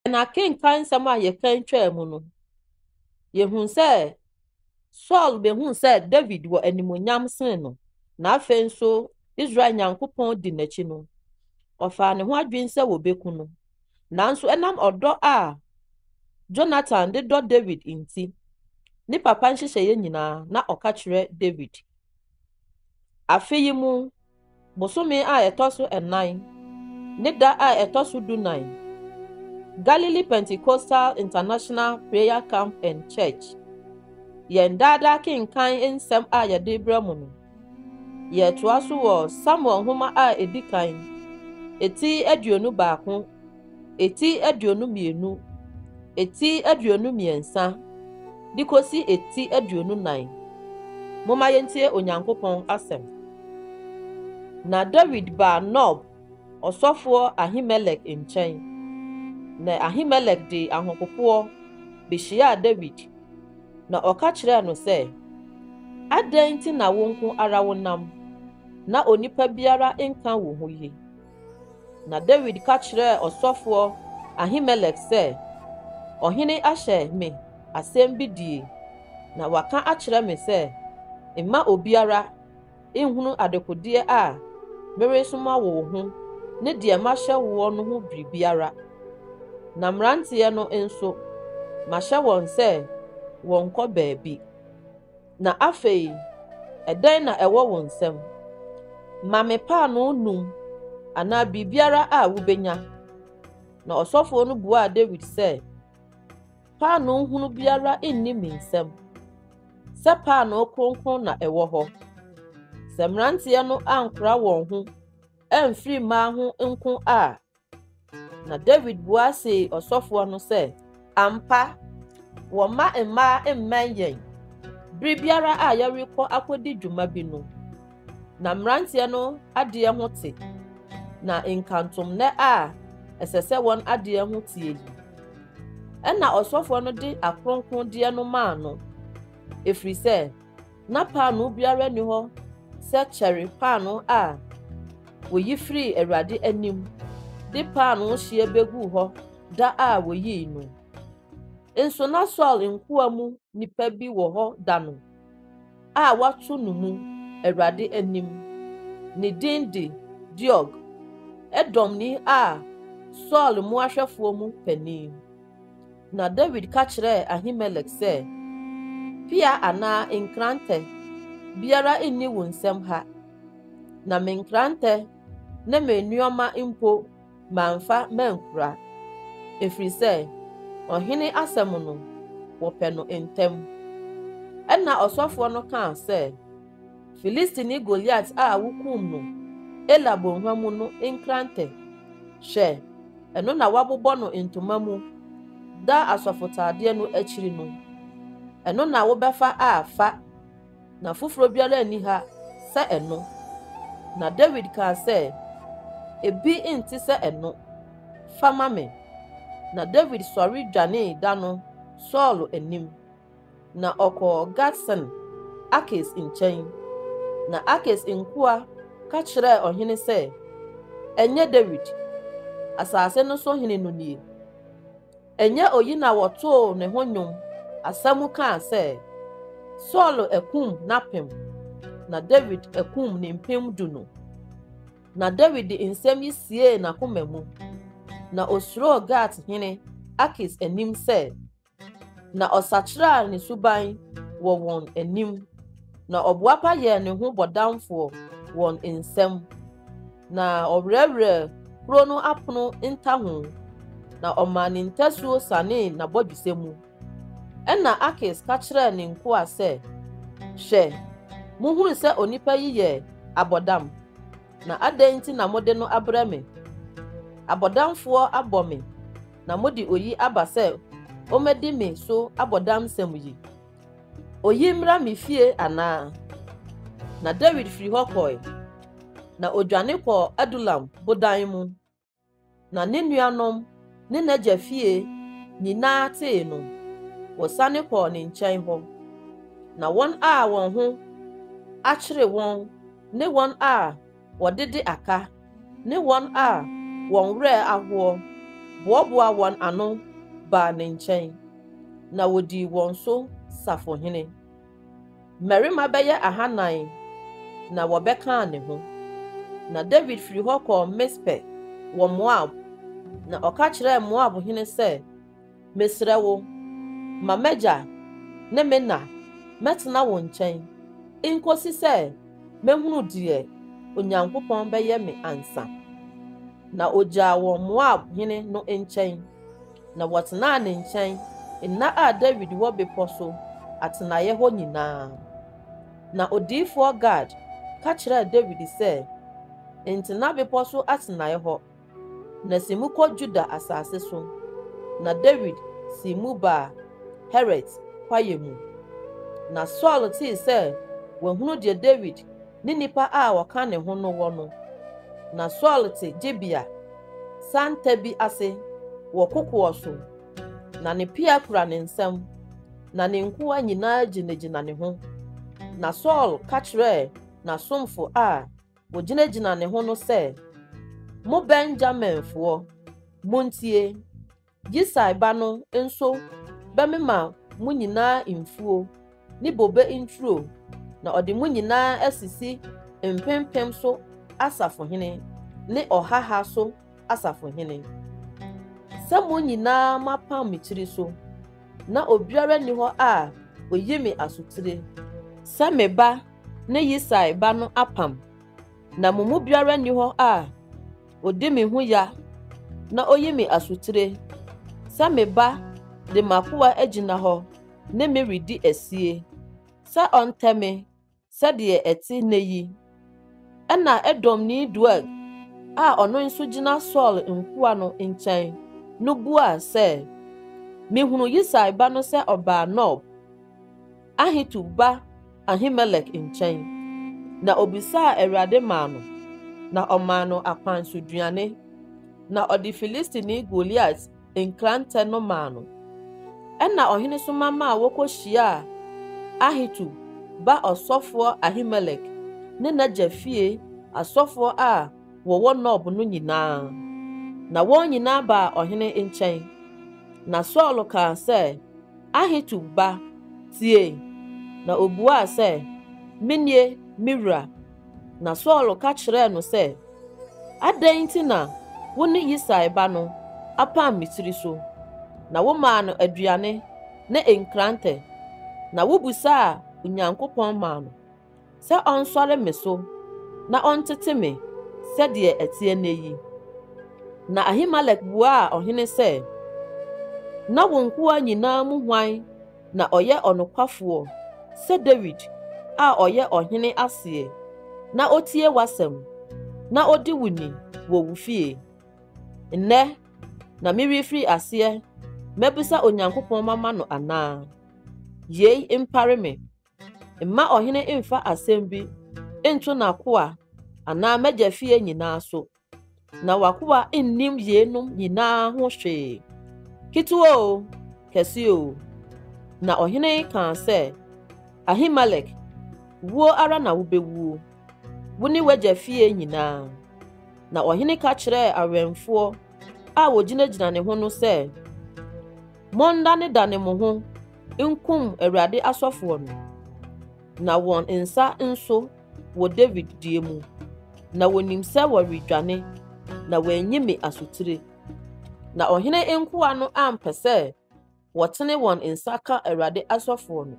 Na akenkan nsɛm a yɛkan twaa mu no, yɛhunu sɛ Saul bɛhuu sɛ David wɔ animonyam sene no, na afei nso Israel Nyankopɔn di n'akyi no, ɔfaa ne ho adwene sɛ wɔbɛku no. Nanso ɛnam ɔdɔ a Jonathan de dɔ David nti, ne papa nhyehyɛeɛ nyinaa na ɔka kyerɛ David. Afe yi mu Bosome a ɛtɔ so nnan ne da a ɛtɔ so dunan, Galilee Pentecostal International Prayer Camp and Church, Yɛn Daa Daa Kenkan Nsɛm a Yɛde Rebrɛ Mo No. Yɛretoa so wɔ Samuel Nhoma a Edi Kan, ti aduonu baako. eti aduonu mmienu, eti aduonu mmiɛnsa, de kɔsi eti aduonu nan. Momma yɛntie Onyankopɔn asɛm. Na Dawid baa Nob ɔsɔfoɔ Ahimelek nkyɛn, na Ahimelek de ahopopoɔ bɛhyiaa Dawid, na ɔka kyerɛɛ no sɛ, Adɛn nti na wo nko ara wonam, na onipa biara nka wo ho yi? Na Dawid ka kyerɛɛ ɔsɔfoɔ Ahimelek sɛ, Ɔhene ahyɛ me asɛm bi die, na waka akyerɛ me sɛ, 'Mma obiara nhunu adekodeɛ a meresoma wo ho ne deɛ mahyɛ woɔ no ho biribiara. Na mmeranteɛ no nso, mahyɛ wɔn sɛ wɔnnkɔ baabi. Na afei, ɛdɛn na ɛwɔ wo nsam? Ma me paanoo nnum anaa biribiara a wubenya. Na ɔsɔfo no buaa Dawid sɛ, Paanoo hunu biara nni me nsam, sɛ paanoo kronkron na ɛwɔ hɔ. Sɛ mmeranteɛ no ankora wɔn ho amfiri mmaa ho nko a, Na Dawid bua see ɔsɔfoɔ no sɛ, Ampa, wɔ mma mmaa mmɛn yɛn bere biara a yɛrekɔ akɔdi dwuma bi no. Na mmeranteɛ no adeɛ ho te, na nkantomnɛ a ɛsɛ sɛ wɔn adeɛ ho teɛ yi. Ɛnna ɔsɔfoɔ no de akronkrondeɛ no maa no, ɛfiri sɛ Ná paanoo biara nni hɔ sɛ kyɛre paanoo a woyi firii Awurade anim de paanoo hyeɛ beguu hɔ da a woyii no. Nso na Saul nkoa mu nipa bi wɔ hɔ da no a wɔato no mu Awurade anim. Ne din de Doeg, Edomni a Saul mmoahwɛfoɔ mu panin. Na Dawid ka kyerɛɛ Ahimelek sɛ, Pea anaa nkrantɛ biara nni wo nsam ha, na me nkrantɛ ne me nneɛma mpo mamfa mankura, ɛfiri sɛ ɔhene asɛm no, wɔpɛ no ntɛm. Ɛnna ɔsɔfoɔ no kaa sɛ, Filistini Goliat a wokum no Ela Bɔnhwa mu no nkrantɛ, hwɛ, ɛno na wɔabobɔ no ntoma mu da asɔfotadeɛ no akyiri no, ɛno na wobɛfa a fa, na foforɔ biara nni ha sɛ ɛno. Na Dawid kaa sɛ, Ebi nte sɛ ɛno, fa ma me. Na Dawid sɔre dwanee da no Saulo anim. na ɔkɔɔ Gat sen Akis nkyɛn. Na Akis nkoa ka kyerɛɛ ɔhene sɛ, Ɛnyɛ Dawid, asase no so hene no nie? Ɛnyɛ oyi na wɔtoo ne ho nnwom asa mu kaa sɛ, 'Saulo akum n'apem, na Dawid akum ne mpem du' no? Na Dawid de nsɛm yi siee n'akoma mu, na osuroo Gat hene Akis anim sɛ, Na ɔsakyeraa ne suban wɔ wɔn anim, na ɔboapa yɛɛ ne ho bɔdamfoɔ wɔn nsam, na ɔwerɛwerɛɛ kuro no apono ntaho, na ɔmaa ne ntasuo sanee n'abɔdwesɛ mu. Ɛnna Akis ka kyerɛɛ ne nkoa sɛ, Hwɛ, mohunu sɛ onipa yi yɛ abɔdam, na adɛn nti na mode no abrɛ me? Abɔdamfoɔ abɔ me. na mode oyi aba sɛ ommedi me so abɔdamsɛm yi? Oyi mmra me fie anaa? Na Dawid firi hɔ kɔe, na odwane kɔɔ Adulam bodan mu. Na ne nuanom ne n'agya fie nyinaa tee no, wɔsane kɔɔ ne nkyɛn hɔ. Na wɔn a wɔn ho akyere wɔn ne wɔn a wɔdede aka, ne wɔn a wɔn werɛ ahoɔ, boaboaa wɔn ano baa ne nkyɛn, na wɔdii wɔn so safohene. Mmarima bɛyɛ ahanan na wɔbɛkaa ne ho. Na Dawid firi hɔ kɔɔ Mispe wɔ Moab, na ɔka kyerɛɛ Moab hene sɛ, Mesrɛ wo, ma m'agya ne me na mɛtena wo nkyɛn nkosi sɛ mɛhunu deɛ Onyankopɔn bɛyɛ me ansa. Na ɔgyaa wɔn Moab hene no nkyɛn, na wɔtenaa ne nkyɛn nna a Dawid wɔ bepɔ so atenaeɛ hɔ nyinaa. Na odiyifoɔ Gad ka kyerɛɛ Dawid sɛ, Ntena bepɔ so atenaeɛ hɔ, Na si mu kɔ Judah asase so. Na Dawid sii mu baa Heret kwaeɛ mu. Na Saul tee sɛ wahunu deɛ Dawid ne nnipa a wɔka ne ho no wɔ no. Na Saul te Gibea santa bi ase wɔ kokoɔ so, na ne pea kura ne nsam, na ne nkoa nyinaa gyinagyina ne ho. Na Saul ka kyerɛɛ n'asomfo a Ogyinagyina ne ho no sɛ, Mo Benyaminfoɔ, montie! Yisai ba no nso bɛmema mo nyinaa mfuo ne bobe nturo, na ɔde mo nyinaa asisi mpempem so asafohene ne ɔhaha so asafohene, sɛ mo nyinaa moapam me tiri so, na obiara nni hɔ a ɔyi me asotire. Sɛ me ba ne Yisai ba no apam, na mo mu biara nni hɔ a odi me ho ya na oyi me asotire sɛ me ba de m'akoa agyina hɔ ne me redi asie sɛ ɔntɛ me sɛdeɛ ɛte nnɛ yi. Ɛnna Edomni Doeg a ɔno nso gyina Saul nkoa no nkyɛn no buaa sɛ, Mehunu Yisai ba no sɛ ɔbaa Nob. Ahitub ba Ahimelek nkyɛn, na obisaa Awurade maa no, na ɔmaa no akwan so duane, na ɔde Filistini Goliat nkrantɛ no maa no. Ɛnna ɔhene soma maa wokohyiaa Ahitub ba ɔsɔfoɔ Ahimelek ne n'agya fie asɔfoɔ a wɔwɔ Nob no nyinaa, na wɔn nyinaa baa ɔhene nkyɛn. Na Saulo kaa sɛ, Ahitub ba, tie! Na obuaa sɛ, Menie, me wura. Na Saulo ka kyerɛɛ no sɛ, Adɛn nti na wo ne Yisai ba no apam me tiri so? Na womaa no aduane ne nkrantɛ, na wobisaa Onyankopɔn maa no. sɛ ɔnsɔre me so na ɔntete me sɛdeɛ ɛteɛ nnɛ yi. Na Ahimelek buaa ɔhene sɛ, Na wo nkoa nyinaa mu hwan na ɔyɛ ɔnokwafoɔ sɛ Dawid a ɔyɛ ɔhene aseɛ na ɔtie w'asɛm na ɔdi wo ni wɔ wo fie? Nnɛ na merefiri aseɛ mabisa Onyankopɔn mama no anaa? Yei mpare me. Mma ɔhene mfa asɛm bi nto n'akoa anaa m'agya fie nyinaa so, na w'akoa nnim yeinom nyinaa ho hwee, ketewa o, kɛse o. Na ɔhene kaa sɛ, Ahimelek, wuo ara na wobɛwuo, wo ne w'agya fie nyinaa. Na ɔhene ka kyerɛɛ awɛmfoɔ a wɔgyinagyina ne ho no sɛ, Monnanedane mo ho nkum Awurade asɔfoɔ no, na wɔn nsa nso wɔ Dawid deɛ mu, na wɔnim sɛ wɔredwane, na wɔanyi me asotire. Na ɔhene nkoa no ampɛ sɛ wɔtene wɔn nsa ka Awurade asɔfoɔ no.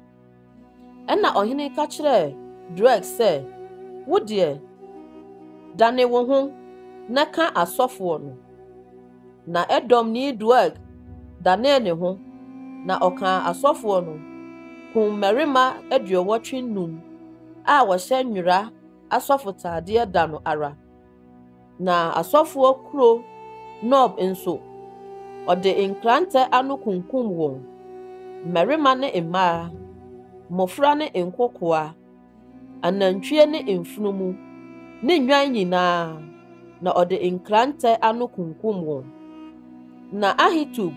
Ɛnna ɔhene ka kyerɛɛ Doeg sɛ, Wo deɛ, dane wo ho na ka asɔfoɔ no. Na Edomni Doeg danee ne ho, na ɔkaa asɔfoɔ no, kumm mmarima aduɔwɔtwe nnum a wɔhyɛ nwera asɔfotaadeɛ da no ara. Na asɔfoɔ kuro Nob nso, ɔde nkrantɛ ano kunkumm wɔn, mmarima ne mmaa, mmɔfra ne nkokoaa. anantwie ne mfunumu, ne nnwan nyinaa, na ɔde nkrantɛ ano kunkum wɔn. Na Ahitub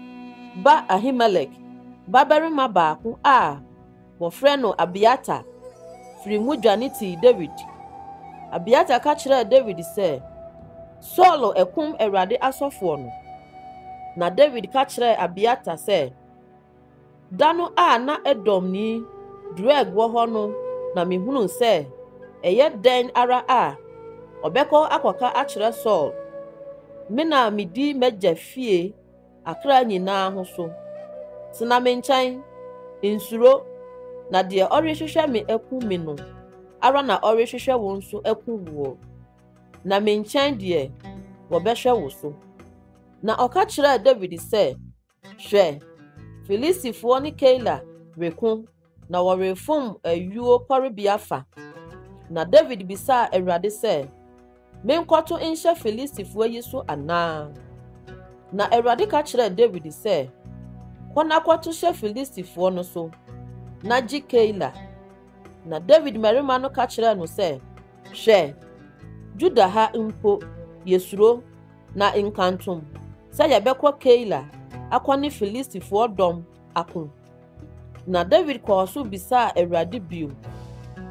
ba Ahimelek babarima baako a wɔfrɛ no Abiatar firii mu dwane tii Dawid. Abiatar ka kyerɛɛ Dawid sɛ, Saulo akum Awurade asɔfoɔ no. Na Dawid ka kyerɛɛ Abiatar sɛ, Da no a na Edomni Doeg wɔ hɔ no na mihunuu sɛ ɛyɛ dɛn ara a, ɔbɛkɔ akɔka akyerɛ Saul, me na midi m'agya fie akra nyinaa ho so. Tena me nkyɛn, nsuro, na deɛ ɔrehwehwɛ me aku me no ara na ɔrehwehwɛ wo nso aku woɔ, na me nkyɛn deɛ wɔbɛhwɛ wo so. Na ɔka kyerɛɛ Dawid sɛ, Hwɛ, Filistifoɔ ne Keila reko, na wɔrefom ayuo pɔrebea fa. Na Dawid bisaa Awurade sɛ, Menkɔto nhyɛ Filistifoɔ yi so anaa? Na Awurade ka kyerɛɛ Dawid sɛ, Kɔ na kɔto hyɛ Filistifoɔ no so, na gye Keila. Na Dawid mmarima no ka kyerɛɛ no sɛ, Hwɛ, Juda ha mpo, yɛsuro. Na nkantom sɛ yɛbɛkɔ Keila akɔ ne Filistifoɔ dɔm ako. Na Dawid kɔɔ so bisaa Awurade bio,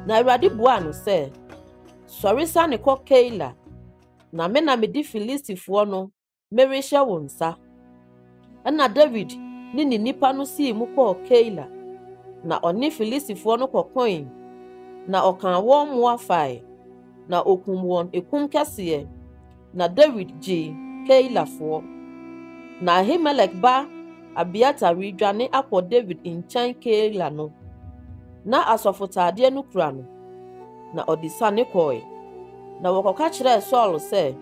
na Awurade buaa no sɛ, Sɔre sane kɔ Keila, na me na mede Filistifoɔ no merehyɛ wo nsa. Ɛnna Dawid ne ne nnipa no sii mu kɔɔ Keila, na ɔne Filistifoɔ no kɔkoe, na ɔkaa wɔn mmoa fae, na ɔkum wɔn ekum kɛseɛ, na Dawid gyee Keilafoɔ. Na Ahimelek ba Abiatar redwane akɔ Dawid nkyɛn Keila no, na asɔfotaadeɛ no kura no, na ɔde siane kɔe. Na wɔkɔka kyerɛɛ Saul sɛ.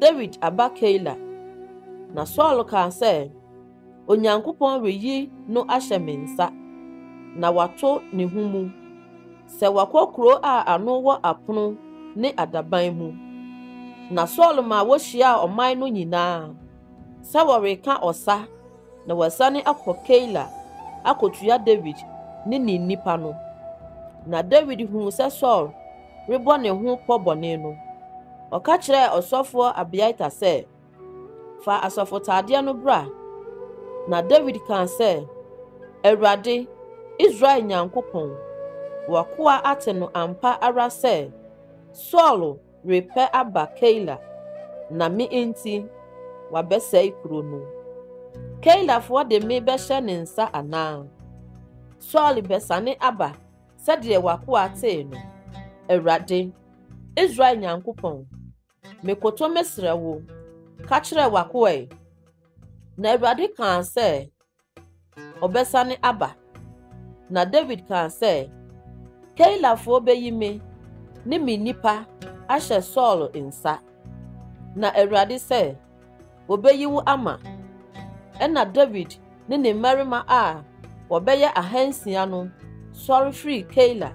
Dawid aba Keila, na Saul kaa sɛ, Onyankopɔn reyi no ahyɛ me nsa, na wato ne ho mu sɛ wakɔ kuro a ano wɔ apono ne adaban mu. Na Saul maa wɔhyiaa ɔman no nyinaa sɛ wɔreka ɔsa. Na wɔasiane akɔ Keila akotua Dawid ne ne nnipa no. Na Dawid huu sɛ Saul rebɔ ne ho pɔ bɔne no, ɔka kyerɛɛ ɔsɔfoɔ Abiatar sɛ, Fa asɔfotadeɛ no bra. Na Dawid kaa sɛ, Awurade, Israel Nyankopɔn, w'akoa ate no ampa ara sɛ Saul Repɛ aba Keila, na me nti wabɛsɛe kuro no. Keilafoɔ de me bɛhyɛ ne nsa anaa? Saul bɛsane aba sɛdeɛ w'akoa tee no. Awurade, Israel Nyankopɔn, mekoto mesrɛ wo, ka kyerɛ w'akoa yi. Na Awurade kaa sɛ, ɔbɛsane aba. Na Dawid kaa sɛ, Keilafoɔ bɛyi me ne me nnipa ahyɛ Saul nsa. Na Awurade sɛ, Wɔbɛyi wo ama. Ɛnna Dawid ne ne mmarima a wɔbɛyɛ ahansia no sɔre firii Keila,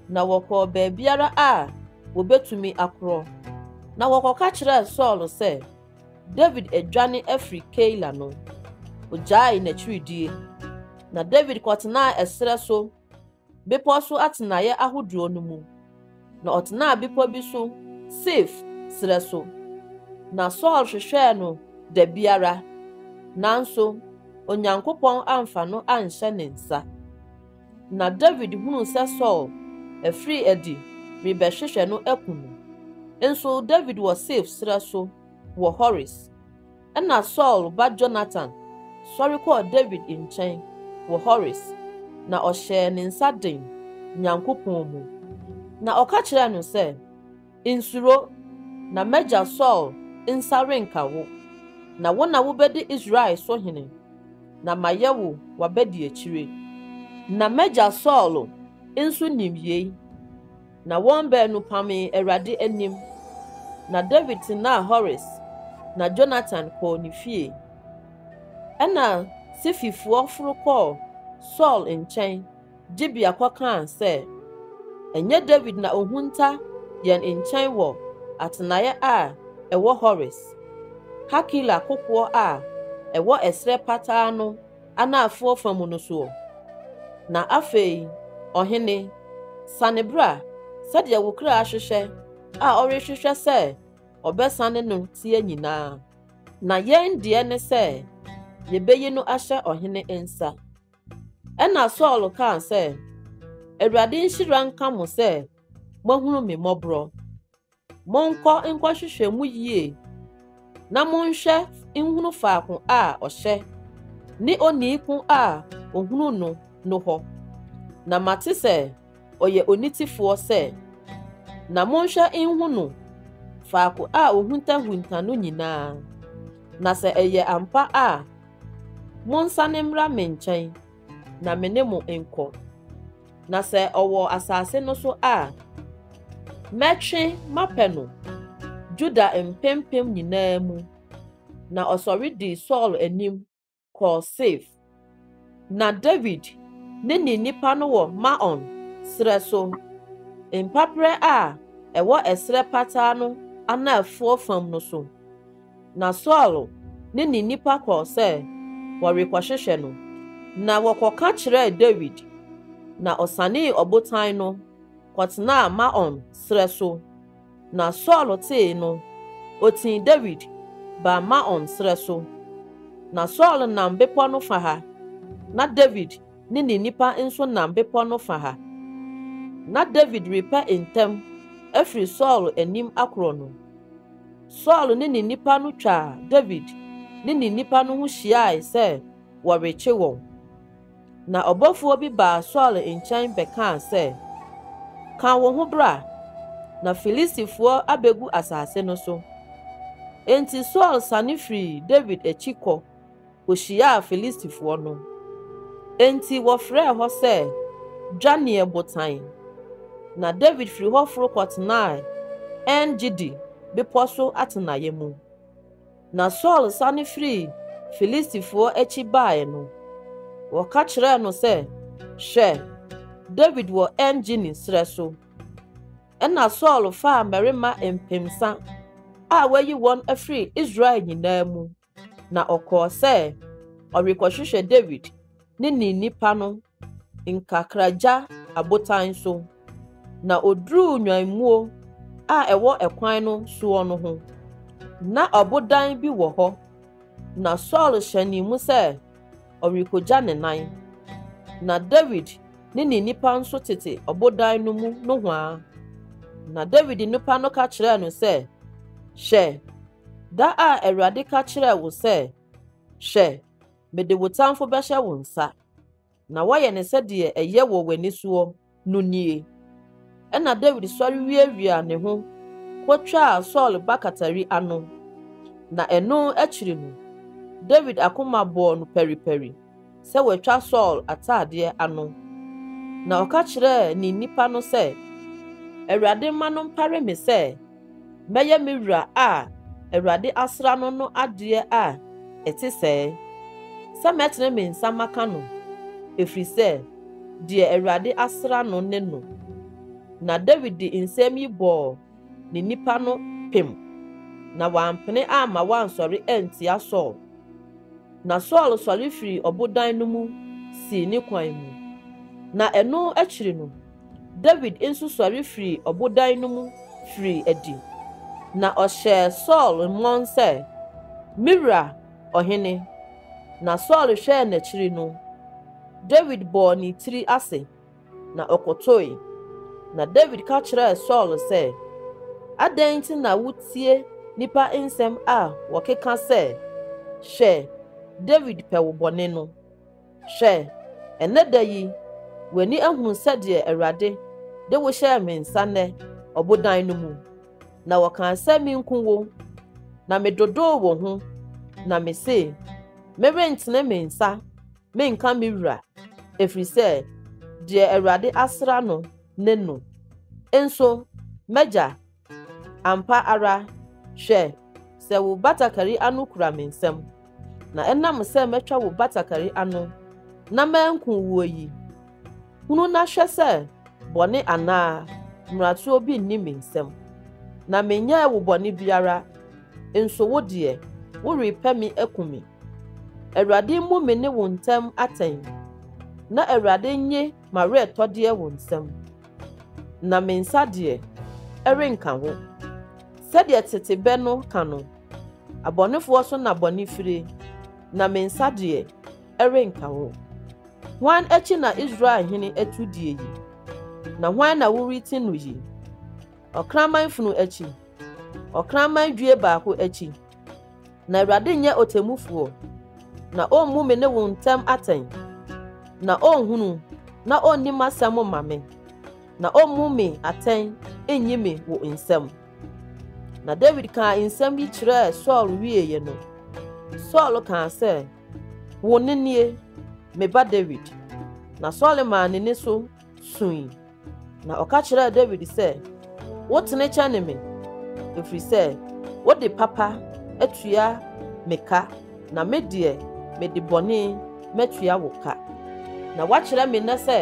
na wɔkɔɔ baabiara a wɔbɛtumi akorɔ. Na wɔkɔka kyerɛɛ Saul sɛ, Dawid adwane afiri Keila no, ogyaee n'akyiridie, na Dawid kɔtenaa ɛserɛ so bepɔ so atenaeɛ ahodoɔ no mu, na ɔtenaa bepɔ bi so Sif serɛ so. Na Saul hwehwɛɛ no da biara, nanso Onyankopɔn amfa no anhyɛ ne nsa. Na Dawid hunuu sɛ Saul afiri adi rebɛhwehwɛ no aku no. Nso Dawid wɔ Sif serɛ so wɔ Hores. Ɛnna Saul ba Yonatan sɔre kɔɔ Dawid nkyɛn wɔ Hores, na ɔhyɛɛ ne nsa den Nyankopɔn mu, na ɔka kyerɛɛ no sɛ, Nsuro, na m'agya Saul nsa renka wo, na wo na wobedi Israel so hene, na mayɛ wo w'abadiakyire. Na m'agya Saul nso nim yei, na wɔn baanu pamee Awurade anim. Na Dawid tenaa Hores, na Yonatan kɔɔ ne fie. Ɛnna Sififoɔ foro kɔɔ Saul nkyɛn. Gibea kɔkaa sɛ, Ɛnyɛ Dawid na ohunta yɛn nkyɛn wɔ atenaeɛ a ɛwɔ Hores, Hakila kokoɔ a ɛwɔ ɛserɛ pataa no anaafoɔ fa mu no soɔ? Na afei, ɔhene, sane bra, sɛdeɛ wo kra hwehwɛ a ɔrehwehwɛ sɛ ɔbɛsane no teɛ nyinaa. Na yɛn deɛ ne sɛ yɛbɛyi no ahyɛ ɔhene nsa. Ɛnna Saul kaa sɛ, Awurade nhyira nka mo sɛ moahunu me mmɔborɔ. Monkɔ nkɔhwehwɛ mu yie na monhwɛ nhunu faako a ɔhyɛ ne onii ko a ɔhunu no no hɔ. Na mate sɛ ɔyɛ onitefoɔ sɛ, na monhwɛ nhunu faako a ɔhuntahunta no nyinaa, na sɛ ɛyɛ ampa a, Monsane mmra me nkyɛn na me ne mo nkɔ, na sɛ ɔwɔ asase no so a, mɛtwe mapɛ no Yuda mpempem nyinaa mu. Na ɔsɔre dii Saul anim kɔɔ Sif. Na Dawid ne ne nnipa no wɔ Maon serɛ so, mpaperɛ a ɛwɔ ɛserɛ pataa no anaafoɔ fam no so. Na Saulo ne ne nnipa kɔɔ sɛ wɔrekɔhwehwɛ no, na wɔkɔka kyerɛɛ Dawid, na ɔsanee ɔbotan no kɔtenaa Maon serɛ so. Na Saulo tee no, otii Dawid baa Maon serɛ so. Na Saulo nam bepɔ no fã ha, na Dawid ne ne nnipa nso nam bepɔ no fã ha. Ná Dawid repɛ ntɛm afiri Saulo anim akorɔ no. Saul ne ne nnipa no twaa Dawid ne ne nnipa no ho hyiae sɛ wɔrekye wɔn. Na ɔbɔfoɔ bi baa Saul nkyɛn bɛkaa sɛ, Ka wo ho bra, na Filistifoɔ abɛgu asase no so. Enti Saul sane firii Dawid akyi kɔ kohyiaa Filistifoɔ no. Enti wɔfrɛɛ hɔ sɛ Dwaneɛ Botan, na Dawid firi hɔ foro kɔtenaa En-Gedi bepɔ so atenaeɛ mu. Na Saul sane firii Filistifoɔ akyi baeɛ no, wɔka kyerɛɛ no sɛ, Hwɛ! Dawid wɔ En-Gedi serɛ so. Ɛnna Saul faa mmarima mpensa a wayi wɔn afiri Israel nyinaa mu Na ɔkɔɔ sɛ ɔrekɔhwehwɛ Dawid ne ne nnipa no nkakragya abotan so, na oduruu nnwammuo a ɛwɔ ɛkwan no soɔ no ho. Na ɔbodan bi wɔ hɔ, na Saul hyɛnee mu sɛ ɔrekɔgya ne nan. Na Dawid ne ne nnipa nso tete ɔbodan no mu nohoa. Na Dawid nnipa no ka kyerɛɛ no sɛ, Hwɛ! Da a Awurade ka kyerɛɛ wo sɛ, Hwɛ, mede wo tamfo bɛhyɛ wo nsa, na woayɛ no sɛdeɛ ɛyɛ wɔ w'ani soɔ no nie. Ɛnna Dawid sɔre wiawiaa ne ho kɔtwaa Saul bakatari ano, na ɛno akyiri no, Dawid akoma bɔɔ no paripari. sɛ wɔatwa Saul ataadeɛ ano, na ɔka kyerɛɛ ne nnipa no sɛ, Awurade mma no mpare me sɛ mɛyɛ me wura a Awurade asra no no adeɛ a ɛte sɛɛ, sɛ mɛtene me nsa maka no, ɛfiri sɛ deɛ Awurade asra no ne no. Na Dawid de nsɛm yi bɔɔ ne nnipa no pem, na wampene amma wɔansɔre antia Saul. Na Saul sɔre firii ɔbodan no mu sii ne kwan mu, na ɛno akyiri no, Dawid nso sɔre firii ɔbodan no mu firii adi, na ɔhyɛɛ Saul mmɔn sɛ, Me wura ɔhene! Na Saul hwɛɛ n'akyiri no, Dawid bɔɔ ne tiri ase. na ɔkotoe. Na Dawid ka kyerɛɛ Saul sɛ, Adɛn nti na wutie nnipa nsɛm a wɔkeka sɛ, 'Hwɛ, Dawid pɛ wo bɔne' no? Hwɛ, ɛnnɛ da yi, w'ani ahunu sɛdeɛ Awurade de wo hyɛɛ me nsa nnɛ ɔbodan no mu, na wɔkaa sɛ menku wo, na medodoo wo ho, na mese, 'Merentene me nsa Menka me wura, ɛfiri sɛ deɛ Awurade asra no ne no. Nso m'agya, ampa ara, hwɛ, sɛ wo batakari ano kura me nsam, na ɛnam sɛ matwa wo batakari ano na manku woɔ yi, Hunu na hwɛ sɛ bɔne anaa mmaratoɔ bi nni me nsam, na menyɛɛ wo bɔne biara, nso wo deɛ, worepɛ me akum me. Awurade mmu me ne wo ntam atɛn, na Awurade nnye m'awerɛtɔdeɛ wo nsam, na me nsa deɛ, ɛrenka ho. Sɛdeɛ tete bɛ no ka no, Abɔnefoɔ so na bɔne fire, na me nsa deɛ, renka wo. Hwan akyi na Israel hene atu die yi? Na hwan na woreti no yi? Ɔkraman funu akyi, ɔkraman due baako akyi. Na Awurade nyɛ ɔtemmufoɔ, na ɔmmu me ne wo ntam atɛn, na ɔnhunu na ɔnni m'asɛm mma me, na ɔmmu me atɛn nnyi me wo nsam. Na Dawid kaa nsɛm yi kyerɛɛ Saul wieeɛ no, Saul kaa sɛ, Wo ne nie, me ba Dawid. Na Saul maa n'ani so sui, na ɔka kyerɛɛ Dawid sɛ, Wotene kyɛne me, ɛfiri sɛ wode papa atua me ka, na me deɛ mede bɔne matua wo ka. Na woakyerɛ me nnɛ sɛ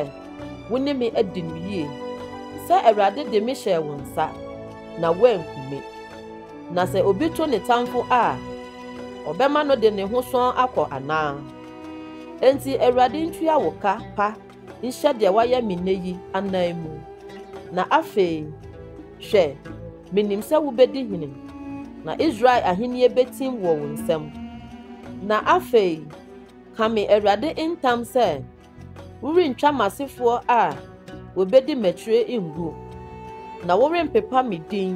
wo ne me adi no yie, sɛ Awurade de me hyɛɛ wo nsa, na woanku me. Na sɛ obi to ne tamfo a, ɔbɛma no de ne ho sɔn akɔ anaa? Enti Awurade ntua wo ka pa nhyɛ deɛ wayɛ me nnɛ yi anan mu. Na afei, hwɛ, menim sɛ wobɛdi hene, na Israel ahennie bɛtim wɔ wo nsam. Na afei, ka me Awurade ntam sɛ Worentwa m'asefoɔ a wɔbɛdi m'akyire ngu, na worempepa me din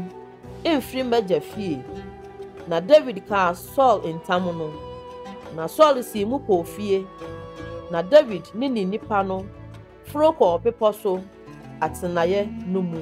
mfiri m'agya fie. Na Dawid kaa Saul ntam no, na Saul sii mu kɔɔ fie, na Dawid ne ne nnipa no foro kɔɔ bepɔ so atenaeɛ no mu.